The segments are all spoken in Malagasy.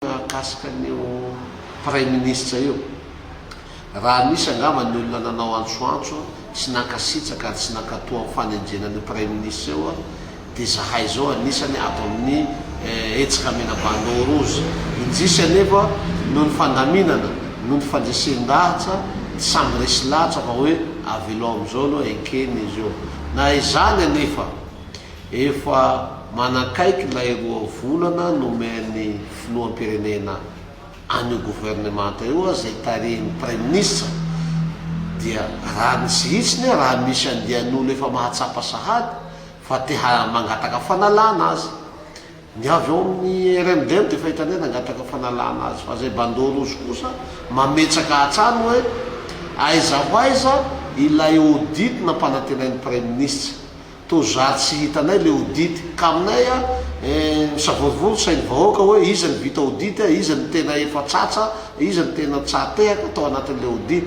Mahakasika an'io Praiminisitra io, raha misy angamba ny olona nanao antsoantso sy nankasitraka ary tsy nankatò amin'ny fanenjehana an'io Praiminisitra io dia izahay izao anisany ato amin'ny Hetsika Mena Bandeau Rouge. Indrisy anefa noho ny fandaminana, noho ny fandresen-dahatra tsy samy resy lahatra fa hoe avelao amin'izao aloha eken'izy io. Na izany anefa, Efa manakaiky ilay roa volana nomen'ny filoham-pirenena an'io governemanta io aza izay tarihin'ny praiminisitra dia raha ny tsy hitsiny aho raha misy andian'olo efa mahatsapa sahady fa te mangataka fanalana azy ny avy ao amin'ny RMDM dia efa hitany hoe nangataka fanalana azy fa izay bandeau rouge kosa mametsaka hatrany hoe aiza ho aiza ilay audit nampanantenain'ny praiminisitra Toa zary tsy hitanay le audit ka aminay a! eh, misavorovoro sain'ny vahoaka hoe iza no vita audit, iza no tena efa tsatsa, iza no tena tsahatehaka tao anatin'ilay audit.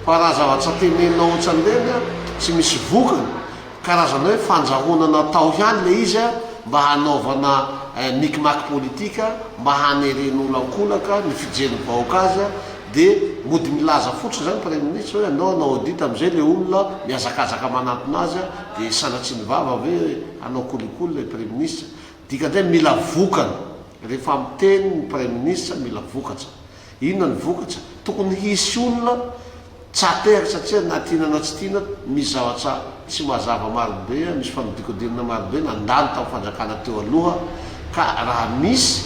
Fa raha zava-tsa tenenina otsan'ireny a, tsy misy vokany, karazana hoe fandrahona natao ihany le izy a, mba hanaovana eh, micmac politika, mba haneren'olo ankolaka ny fijery ny vahoaka azy a, Dia mody milaza fotsiny izany praiminisitra hoe anao hanao audit amin'izay ilay olona mihazakazaka manantona azy dia sanatriany vava ve hanao kolikoly ilay praiminisitra. Dikan'izay mila vokany. Rehefa miteny ny praiminisitra mila vokatra. Inona ny vokatra? Tokony hisy olona tsy ateraka satria na tiana na tsy tiana misy zavatra tsy mazava marobe, misy fanodinkodinana marobe nandalo tamin'ny fanjakana teo aloha ka raha misy,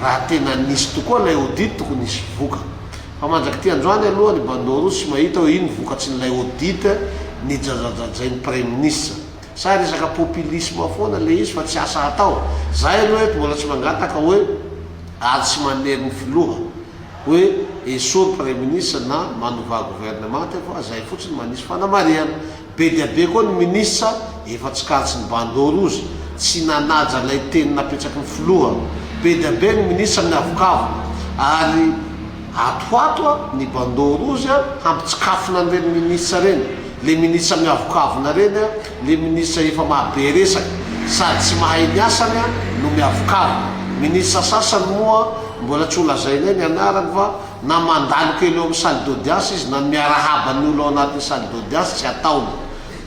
raha tena nisy tokoa ilay audit tokony hisy vokany. Fa mandrak'ity androany aloha ny Bandeau Rouge tsy mahita hoe ino vokatsin'ilay audit nijajajajain'ny Praiminisitra. Sa resaka popilisma foana ilay izy fa tsy asa hatao? Izahay aloha eto mbola tsy mangataka hoe ady sy manery ny Filoha. hoe esory praiminisitra na manovà governemanta efa zay fotsiny manisy fanamarihana. Be dia be koa ny minisitra efa tsikaritrin'ny bandeau rouge tsy nanaja ilay teny napetraky ny filoha. Be dia be ny minisitra miavokavoka ary atoato ny bandeau rouge hampitsikafona an'ireny minisitra ireny. Le minisitra miavokavona ireny Ny ministra efa maha be resaka sady tsy mahay ny asany an no miavokavo. Ministra sasany moa mbola tsy ho lazainay ny anarany fa na mandalo kely eo amin'ny salle d'audience izy na miarahaba ny olo ao anatin'ny salle d'audience tsy ataony.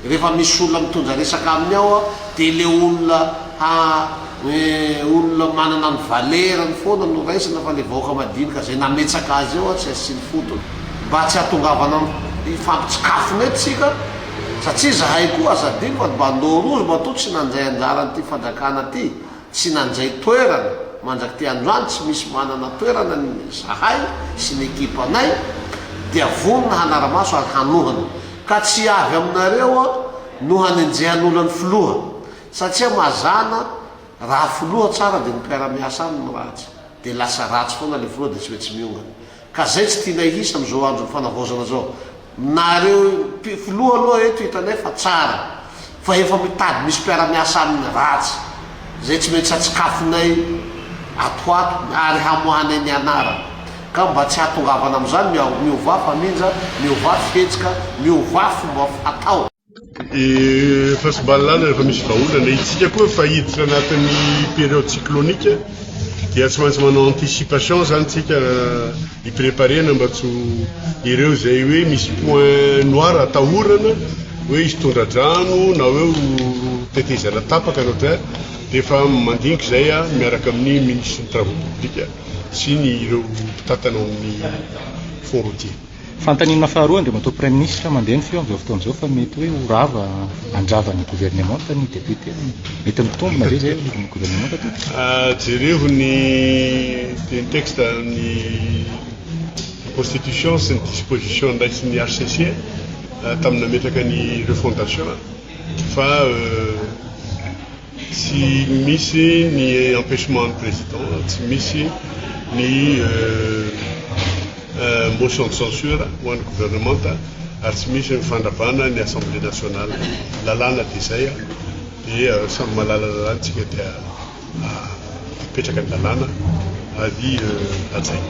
Rehefa misy olona mitondra resaka aminy ao an dia le olona ha eh olona manana ny valerany foana no raisina fa le vahoaka madinika izay nametsaka azy eo an tsy asiany fotony. Mba tsy hatongavana am hifampitsikafona eto tsika. Satria zahay koa aza adino fa ny bandeau rouge matoa tsy nandray anjara an'ity fandrakana ty, tsy nandray toerana, mandrak'ity androany tsy misy manana toerana ny zahay sy ny ekipanay dia vonona hanaramaso ary hanohana ka tsy avy aminareo no hanenjehan'olona ny filoha satria mazana raha filoha tsara dia ny mpiaramiasa aminy ratsy dia lasa ratsy foana le filoha dia tsy maintsy miongana Ka zay tsy tianay hisy amzao andron'ny fanavaozana zao. Nareo mpi filoha aloha eto hitanay fa tsara. Fa efa mitady misy mpiaramiasa aminy ratsy. Zay tsy maintsy hatsikafinay atoato ary hamoahanay ny anarany. Ka mba tsy hatongavana amzany miaovà faminja, miovà fihetsika, miovà fomba fatao. Et face balala rehefa misy vahaolana, itsika koa efa hiditra anatin'ny période cyclonique dia tsy maintsy manao anticipation zany tsika hipreparena mba tsy ireo izay hoe misy point noir atahorana hoe hisy tondra-drano na hoe ho tetezana tapaka na dia efa mandinika izay a miaraka amin'ny ministre ny travaux publics sy ny ireo mpitantana ao amin'ny fond routier. Fanontaniana faharoa, Andriamatoa Praiminisitra, mandeha ny feo amin'izao fotoana izao fa mety hoe ho rava handrava ny governemanta ny depiote. Mety mitombina ve izay anivon'ny governemanta tompoko? Jerevo ny teny texte ny constitution sy ny disposition ndraisin'ny hcc tamin'ny nametraka ny refondation fa Tsy misy ny empechement ny président, tsy misy ny motion de censure ho an'ny gouvernemanta ary tsy misy ny fandrabana ny assemblée nationale. Lalàna dia izay dia samy mahalala lalàna isika dia apetraka ny lalàna ary hajaina.